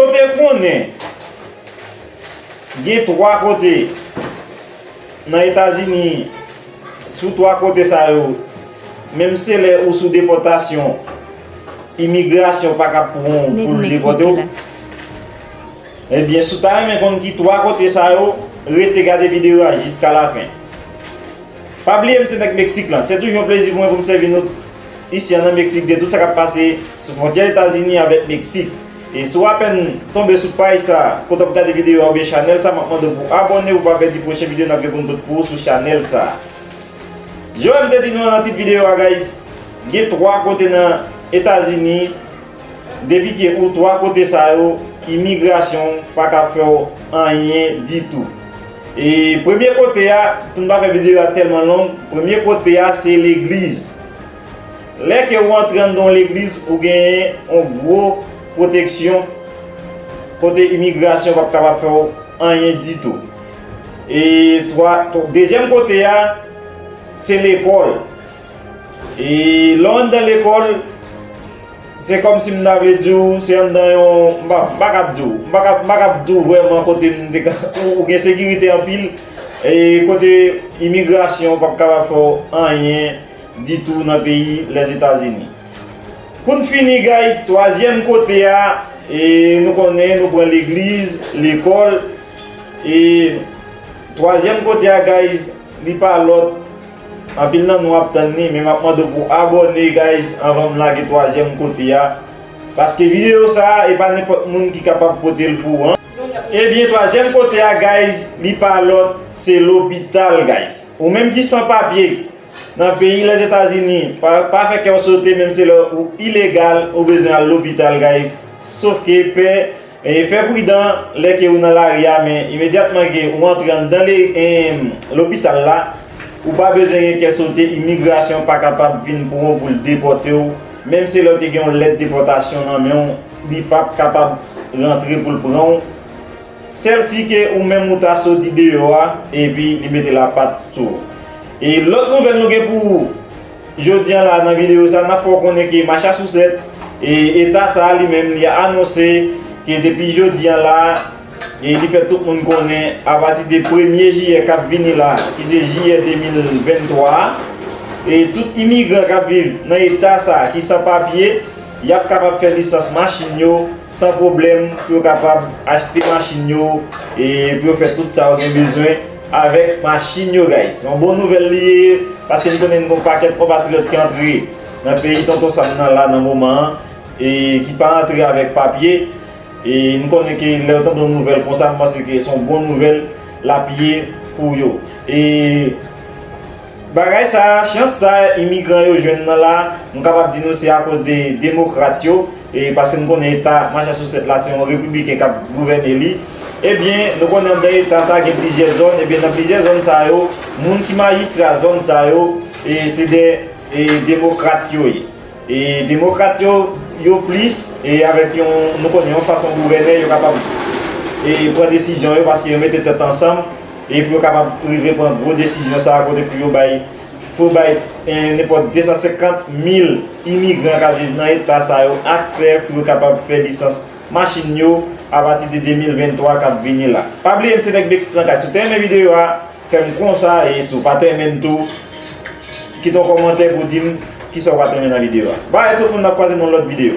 Ou te konnen gen 3 kote nan Etazini, sou 3 kote sa yo, menm se lè ou sou depòtasyon, imigrasyon pa kab pou ou pou l depòte ou? Ebyen, si w ta renmen konn ki 3 kote sa yo, rete gade videyo a jiska lafen. Pa bliye m se nèg Meksik lan. Se toujou yon plezi pou mwen pou m sèvi nou isi an nan Meksik de tout sa k ap pase sou fwontyè Etazini avèk Meksik. E si w apèn tonbe sou paj sa, kote w ap gade videyo a oubyen chanèl sa, m ap mande w pou w abòne pou w pa pèdi pwochen videyo n ap gen pou n pot pou ou sou chanèl sa. Jan m te di nou an nan tit videyo a guys, gen 3 kote nan Etazini depi ke ou 3 kote sa yo imigrasyon pa ka fè w anyen ditou. E premye kote a, pou n pa fè videyo a tèlman long, premye kote a se legliz. Lè ke ou antre anndan yon legliz, ou genyen yon gwo pwoteksyon kote imigrasyon pap kapab fè w anyen ditou. E twa, dezyèm kote a, se lekòl. E lè w anndan lekòl, se kòm si m ta vle di w, se anndan yon, m pa, m pa kab di w, m pa kab, m pa kab di w vrèman kote m te ka, ou gen sekirite anpil, e kote imigrasyon pap kapab fè w anyen. ditou nan peyi Lèzetazini. Pou n fini guys, twazyèm kote a, e nou konnen nou pran legliz, lekòl, e twazyèm kote a guys li pa lòt, anpil nan nou ap tann li, men m ap mande w pou w abòne guys anvan m lage twazyèm kote a, paske videyo sa a e pa nenpòt moun ki kapab pote l pou w. Ebyen twazyèm kote a guys li pa lòt se lopital guys. Ou menm ki san papye. Nan peyi Lèzetazini, pa fè kèw sote menm se lè ou ilegal ou bezwen al lopital guys sof ke pè fè pridan lè ke ou nan lari a men imedyatman ke ou antre anndan lopital la ou pa bezwen gen kè sote imigrasyon pa kapab vin pran w poul depòtew menm se lè ou te gen yon lèt depòtasyon nan menw li pap kapab rantre poul pranw Sèl si ke ou menm ou ta soti deyò a epi li mete lapat sou ou. E lòt nouvèl nou gen pou ou jodi an la nan videyo sa, nap fè w konnen ke Machasousèt, e eta sa a li menm li anonse ke depi jodi an la e li fè tout moun konnen apati de premye jiyè kap vini la ki se jiyè 2023 a e tout imigran kap viv nan eta sa ki san papye Y ap kapab fè lisans machin yo san pwoblèm pou yo kapab achte machin yo e pou yo fè tout sa yo gen bezwen avèk machin yo guys. Se yon bon nouvèl li ye paske m konnen gen yon pakèt konpatriyòt ki antre nan peyi Tonton Sam nan la nan moman an e ki pa antre avèk papye e m konnen ke lè yo tande yon nouvèl konsa m panse ke se yon bon nouvèl l ap ye pou yo e. Bagay sa, chans sa imigran yo jwenn nan la, m kapab di nou se akoz de demokrat yo, e paske nou konnen eta Massachusetts la se yon repibliken k ap gouvène li, ebyen nou konnen anndan eta sa gen plizyè zòn, ebyen nan plizyè zòn sa yo, moun ki majistra zòn sa yo, e se de demokrat yo ye. E demokrat yo, yo plis, e avèk yon, nou konnen yon fason gouvène, yo kapab e pran desizyon yo paske yo mete tèt ansanm e pou yo kapab rive pran gwo desizyon sa a kote pou yo bay, pou yo bay e nenpòt 250 mil imigran k ap viv nan eta sa yo aksè pou yo kapab fè lisans machin yo apati de 2023 k ap vini la. Pa bliye m se nèg Meksik nan kay. Si w te renmen videyo a. Fèm konsa e si w pat renmen l tou kite yon kòmantè pou w dim kisa w pat renmen nan video a. Bye tout moun nap kwaze nan lòt video.